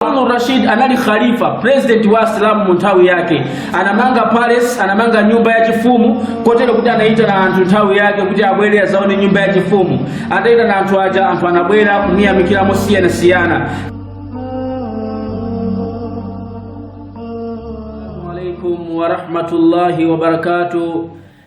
Harun Rashid anali khalifa president wa Asilamu mu nthawi yake, anamanga palace, anamanga nyumba ya chifumu kotero kuti anaitana anthu nthawi yake kuti abwere azaone nyumba ya chifumu. Ataitana anthu aja, anthu anabwera kumuyamikira mosiyanasiyana. alaikum warahmatullahi wabarakatuh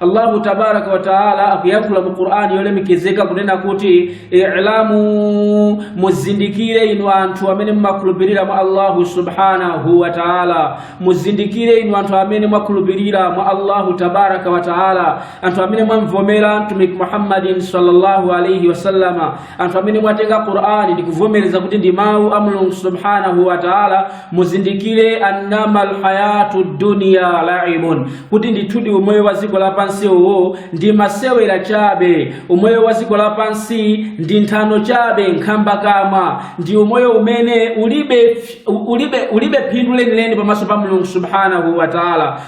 Allahu tabaraka wa taala akuyankhula mu Qur'ani yolemekezeka kunena kuti i'lamu, muzindikire inu anthu amene mumakhulupirira mwa Allahu subhanahu wa taala, muzindikire inu anthu amene mwakhulupirira mwa Allahu tabaraka wa taala, anthu amene mwamvomera Mtumiki Muhammadin sallallahu alayhi wasallama, anthu amene mwatenga qur'ani ndikuvomereza kuti ndi mawu a mulungu subhanahu wa taala muzindikire annama alhayatu dunya laibun kuti ndithudi umoyo wa dziko lapansi uwo ndi masewera chabe umoyo wa dziko lapansi ndi nthano chabe nkhamba kama ndi umoyo umene ulibe, ulibe, ulibe phindu lenileni pamaso pa mulungu subhanahu wa taala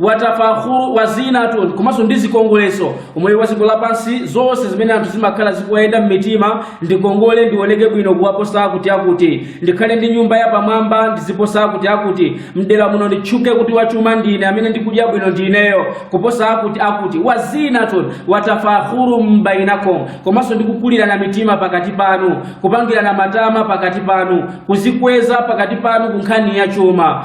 watafakhuru wa zinatun komanso ndi zikongoleso umoyo wa dziko lapansi zonse zimene anthu zimakhala zikuwayenda m'mitima ndikongole ndioneke bwino kuwaposa akuti akuti ndikhale ndi nyumba yapamwamba ndiziposa akuti akuti mdera muno nditchuke kuti wachuma ndine amene ndikudya bwino ndineyo kuposa akuti akuti wa zinatun watafakhuru bainakum komanso ndikukulirana mitima pakati panu kupangirana matama pakati panu kuzikweza pakati panu kunkhani ya chuma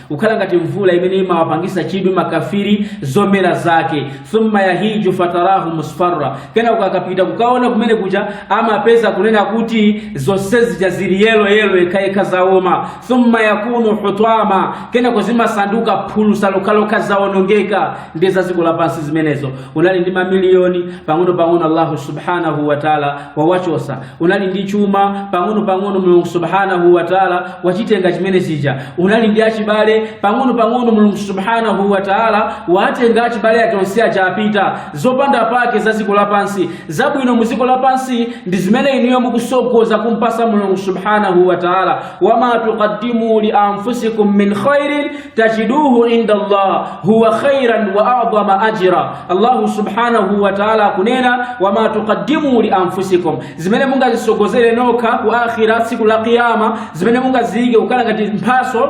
kukhala ngati mvula imene imawapangisa chidwi makafiri zomera zake thumma yahiju fatarahu musfarra kenako akapita kukaona kumene kuja amapeza kunena kuti zonse zija zili yelo yelo yekhayekha zaoma thumma yakunu hutama kenako zimasanduka phulusa lokhalokha zaonongeka ndi za dziko lapansi zimenezo unali ndi mamiliyoni pang'ono pang'ono allahu subhanahu wataala wawachosa unali ndi chuma pang'ono pang'ono mulungu subhanahu wa taala wachitenga chimene chija unali ndi achibale pang'ono pang'ono mulungu subhanahu wa taala watenga achibale ake onse aja apita zopanda pake za dziko lapansi zabwino mu dziko lapansi ndi zimene inuyo mukusogoza kumpasa mulungu subhanahu wa taala wama tuqaddimu li anfusikum min khairin tajiduhu inda Allah huwa khairan wa a'dhama ajra. Allahu subhanahu wa ta'ala akunena wama tuqaddimu li anfusikum, zimene mungazisogozere nokha ku akhira siku la kiyama, zimene mungaziike kukhala ngati mphaso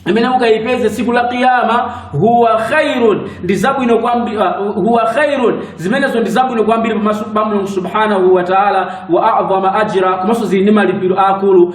imene mukaipeze siku la kiyama huwa khairun ndi zabwino kwambiri uh, huwa khairun zimenezo ndi zabwino kwambiri pamaso pa Mulungu subhanahu wa ta'ala wa a'dhama ajra komanso zili ndi malipiro akulu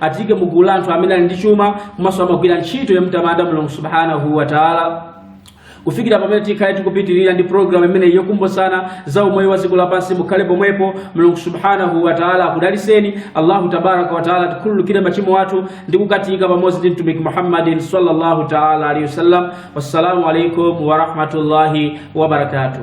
atike mu gulu la anthu amene ali ndi chuma komanso amagwira ntchito yamtamanda mulungu subhanahu wa taala kufikira pamene tikhale tikupitirira ndi programu imeneyi yokumbutsana za umoyo wa dziko lapansi mukhale pomwepo mulungu subhanahu wa taala akudaliseni allahu tabaraka wa taala atikhululukire machimo athu ndi kukatika pamodzi ndi mtumiki muhammadin sallallahu taala alaihi wasallam wassalamu alaikum warahmatullahi wabarakatuh